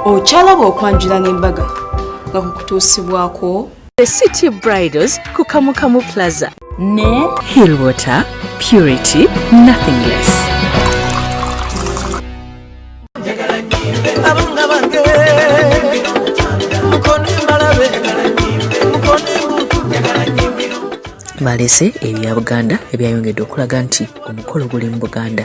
okyalaba okwanjula n'embaga nga kukutuusibwako the city bridals ku kamukamu plaza ne hill water purity nothing less balese ebya buganda ebyayongedde okulaga nti omukolo guli mu buganda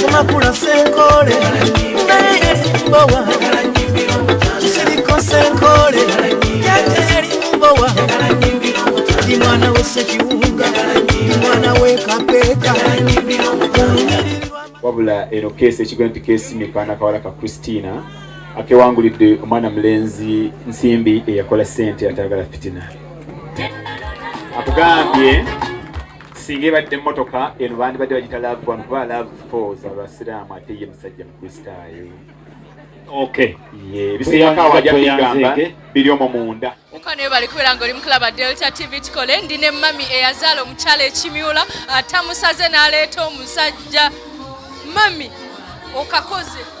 Tumakula senkole Naye yali mbowa Tusiriko senkole Yate yali mbowa Ndi mwana we sekiwunga Ndi mwana we kapeka Wabula eno kesi ekigwe nti kesi mikana kawala ka Christina akewangulidde omwana mulenzi nsimbi eyakola sente atagala fitina akugambye singa ebadde mmotoka eno bandibadde bagita love one kuba love four za basiraamu ate ye musajja mukristaayo okay ye ebisiyako awajabigamba biri omwo munda mukano webale kubeera nga oli mukulaba delta tv kikole ndi ne mami eyazaala omukyala ekimyula atamusaze n'aleeta omusajja mami okakoze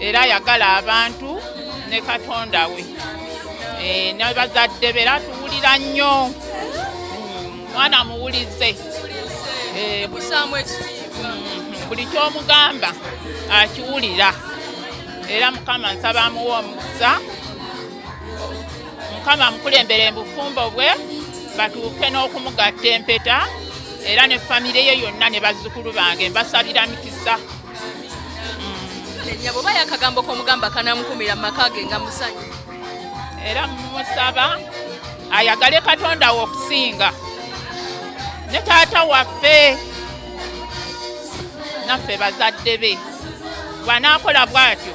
era ayagala abantu ne katonda we eh, ne bazadde be era tuwulira nnyo hmm, mwana muwulize eh, hmm, buli kyomugamba akiwulira era mukama nsaba amuwa omukisa mukama amukulembere mubufumbo bwe batuuke n'okumugatta empeta era ne famire ye yonna ne bazzukulu bange mbasabira mikisa nyabo oba yakagambo komugamba kanamukumira mumaka ge nga musanyu era mumusaba ayagale katonda we okusinga ne taata waffe naffe bazadde be bwanakola bwatyo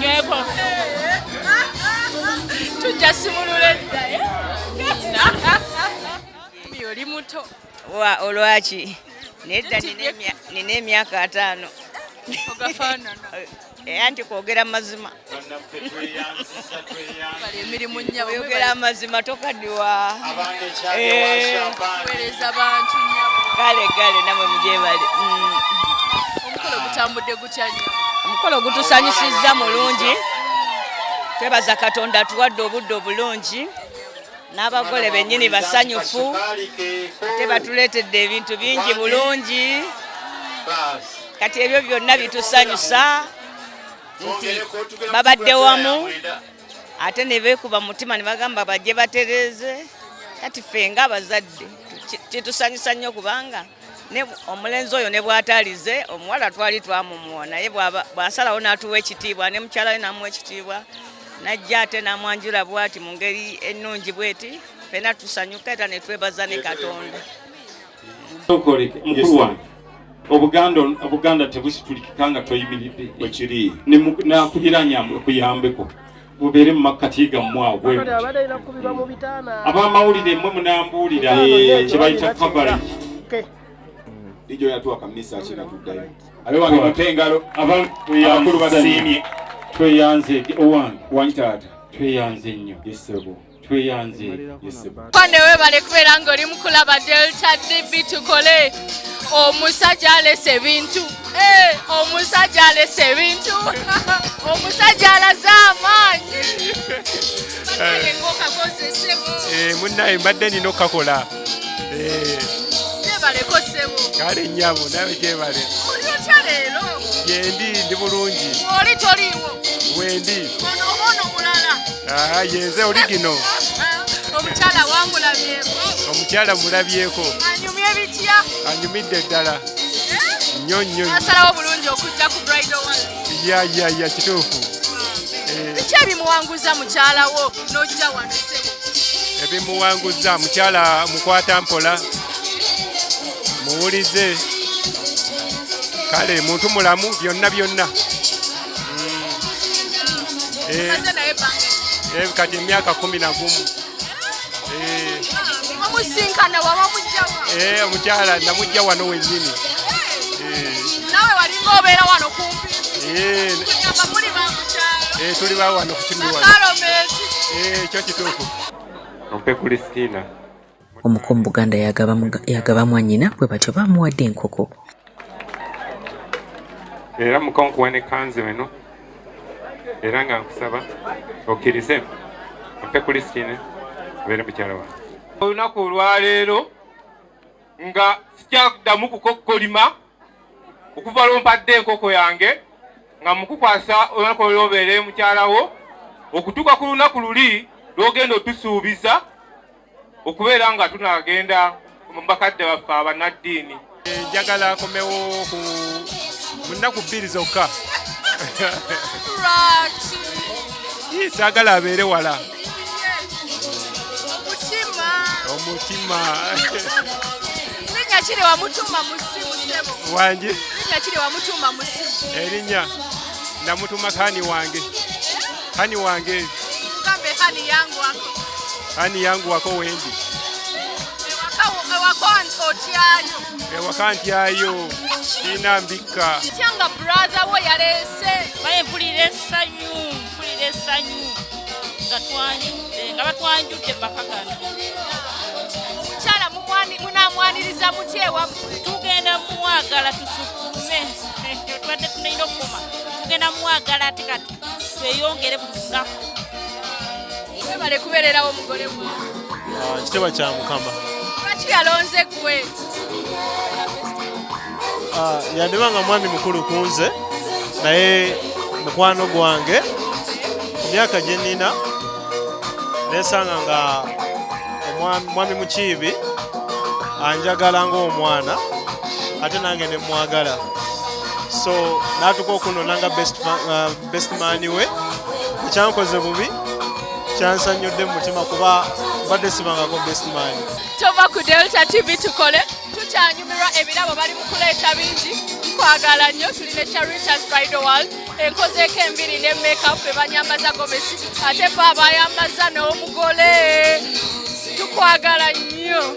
nyweko tujja simulula edda eh? oli muto wa olwaki nedda nina emyaka ataano eh, anti kwogera mazima emirimu nnyabo oyogera amazima tokadiwa wereza eh. bantu nnyabo kale kale namwe mugyebale mm. omukolo gutambudde gutya nnyo omukolo gutusanyusizza mulungi twebaza katonda atuwadde obudde obulungi n'abagole bennyini basanyufu tebatuleetedde ebintu bingi bulungi kati ebyo byonna bitusanyusa nti babadde wamu ate ne beekuba mutima ne bagamba bajje batereeze kati ffe nga abazadde kitusanyusa nnyo kubanga omulenzi oyo ne bwatalize omuwala twali twamumuwa naye bwasalawo n'atuwa ekitiibwa ne mukyala we namuwa ekitiibwa najja ate namwanjula bwati mu ngeri ennungi bweti fena tusanyuka era netwebaza ne katonda Sokoleke mukulu wange obuganda obuganda tebusitulikika nga toyimiridde ekiri nakuliranya kuyambeko mubeere mu makkati gammwe awo bwebuti abamawulire mwe munambuulira eh, kyebayita coverage ijo yatuwa kamisa kina tuddayo abe wange mute engalo abakulu basiimye tweyanze owange wangi taata tweyanze nnyo yesebo tweyanze yesebo kwane webale kubeera nga oli mukulaba delta db tukole omusajja alese ebintu eh, omusajja alese ebintu omusajja alaze amaanyi eh. munaye mbadde nina okukakola eh. jebaleko sebo kale nyabo nawe jebale olyotya leero yendi ndi bulungi oli toliiwo wendi ono oba ono mulala ah, yenze oli gino omukyala wamulabyeko omukyala mulabyeko anyumye ebitya anyumidde ddala eh? nnyo nnyo asalawo bulungi okujja ku bridal one ya ya ya kituufu eh. biki ebimuwanguza mukyala wo n'ojja wano ssebo ebimuwanguza mukyala mukwata mpola muwulize kale muntu mulamu byonna byonna mm. eh. Eh, kati emyaka kumi na gumu eh, omukyala namujja wano wenyini eh. nawe walinga obeera wano kumpi eh. tuli bawano kukinuwaekyo kituufu ompe kulistina omuko mu buganda yagaba mwanyina bwe batyo bamuwadde enkoko era mukonkuwa ne kanzu eno era nga nkusaba okkirize mpe kulistine abeere mukyala wange olunaku olwaleero nga sikyakuddamu kukokkolima okuva lwompadde enkoko yange nga mukukwasa olunaku olwobeere mukyalawo okutuuka ku lunaku luli lwogenda otusuubiza okubeera nga tunagenda mu bakadde baffe abanaddiini njagala akomewo ku munaku bbiri zokka saagala abeere wala omutima wange erinnya namutuma kaani wange Hani wange. Mugambe hani yangu wako. Hani yangu wako wendi. ewaka ntyayo kiina mbikka kyanga brathe wo yaleese baye mpulira essanyu mpulira essanyu nga twanjudde nga batwanjudde bakagana mukyala munamwaniriza mutya ewamu tugenda mumwagala tusukume tubadde tunalina okukuma tugenda mumwagala ate kati tweyongere buli lunaku webale kubeererawo omugole gwe ah, kiteba kya mukama lwaki yalonze gwe ah, yandiba nga mwami mukulu kunze naye mukwano gwange ku myaka gye nnina nesanga nga omwami mukiibi anjagala ng'omwana ate nange ne mwagala so natuka okunona nga best, uh, best man we ekyankoze bubi kyansanyudde mumutima kuba mbadde sibangako best man tova ku delta tv tukole tukyanyumirwa ebirabo bali mukuleeta bingi kwagala nnyo tuli ne sharitas bridal world enkozeeko embiri ne makeup ebanyambaza gomesi ate fe abayambaza n'omugole tukwagala nnyo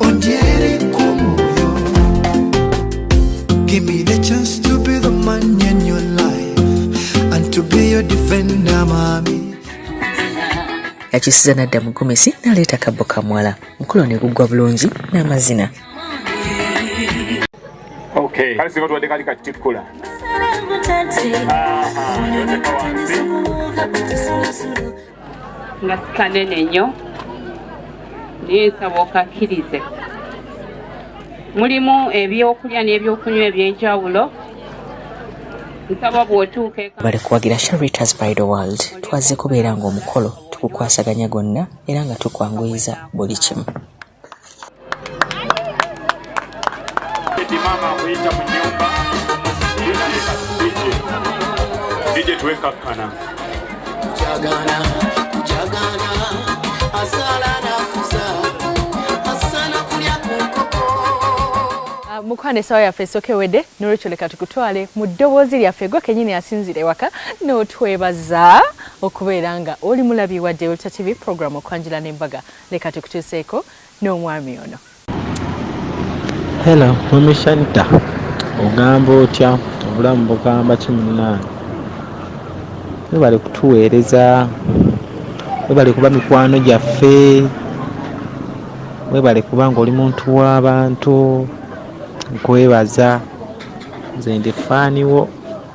Onjere kumoyo Give me the chance to be the man in your life And to be your defender mami yakisiza nadda mu gomesi naleeta kabbo kamwala mukulo ne guggwa bulungi n'amazina okay. kale singa tubadde kali katikkula nga sikanene nnyo naye nsaba okakkirize mulimu ebyokulya n'ebyokunywa ebyenjawulo nsaba bw'otuuka bale kuwagira sharitas by the world twazze kubeera ng'omukolo tukukwasaganya gonna era nga tukwanguyiza buli kimu mukwano esawa yaffe esooka ewedde nolwekyo leka tukutwale mu ddoboozi lyaffe gwe kenyini asinzira ewaka n'otwebaza okubeera nga oli mulabi wa Deulta TV programu okwanjula n'embaga Leka tukutuuseeko n'omwami ono. Hello, Mummy Sharita. Ogamba otya? Obulamu bugamba ki munnange? Webale kutuweereza, webale kuba mikwano gyaffe, webale kuba ng'oli muntu w'abantu. Nkwebaza, nze ndi ffaani wo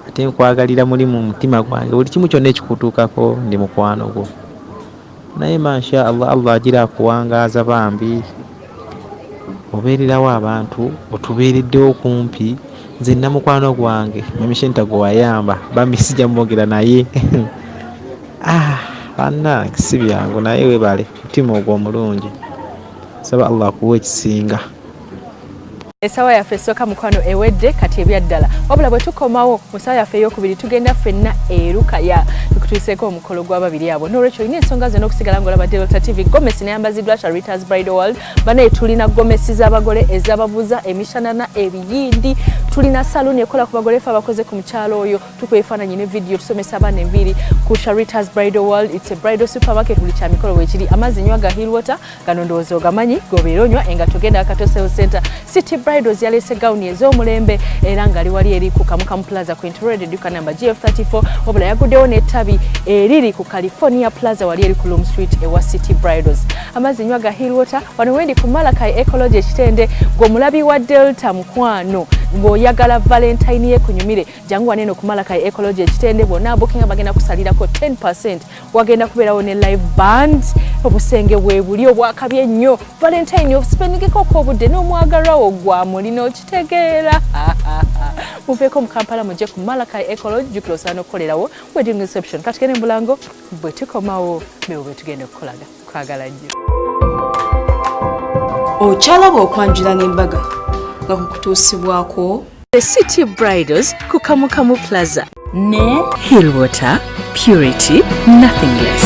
ate nkwagalira muli mu mutima gwange. Buli kimu kyonna ekikutuukako ndi mukwano gwo. naye mansha allah allah agira akuwangaaza bambi obeererawo abantu otubeereddewo kumpi nze namukwano gwange mamishenta gwe wayamba bambi sijja mwogera naye ah, bannange si byangu naye webale mutima ogwo omulungi saba allah akuwa ekisinga esawa yaffe esooka mukwano ewedde kati ebyaddala wabula bwe tukomawo mu sawa yaffe eyokubiri tugenda ffenna erukaya tukutuuseeko omukolo gw'ababiri abo nolwekyo olina ensonga zona okusigala ngaolaba delta tv gomesi neyambaziddwa kya reuters bride world banaye tulina gomesi z'abagole ezababuza emishanana ebiyindi tulina saluuni ekola ku bagole fe abakoze ku mukyalo oyo tukuba ebifaananyi ne vidiyo tusomesa abaana enviiri ku sha reuters bride world its a bride supermarket buli kyamikolo wekiri amazzi nywa ga hill water gano ndowooza ogamanyi gobeera onywa engatto genda akatosel center city bridals yaleese gawuni ez'omulembe era ngali wali eri ku kamukamu plaza ku introred eduka namba gf 34 wabula yaguddewo n'ettabi eriri ku california plaza wali eri ku loom street ewa city bridals amazzi nywa ga hill water wano wendi ku malakai ecology ekitende gw'omulabi wa delta mukwano ng'oyagala valentine ye kunyumire jangu waneeno ku malakai ecology ekitende bwonna bookinga bagenda kusalirako 10 wagenda kubeerawo ne live band obusenge bwebuli obwakabye ennyo valentine obusipenigeko okobudde n'omwagalwawo gwamuli n'okitegeera muveeko mu kampala mujje ku malakai ecolo jukira osaana okukolerawo wedding reception kati gene mulango bwe tukomawo bewo bwe tugenda okukolaga kwagala nnyo okyalaba okwanjula n'embaga nga kukutuusibwako the city bridals ku kamukamu plaza ne hill water purity nothing less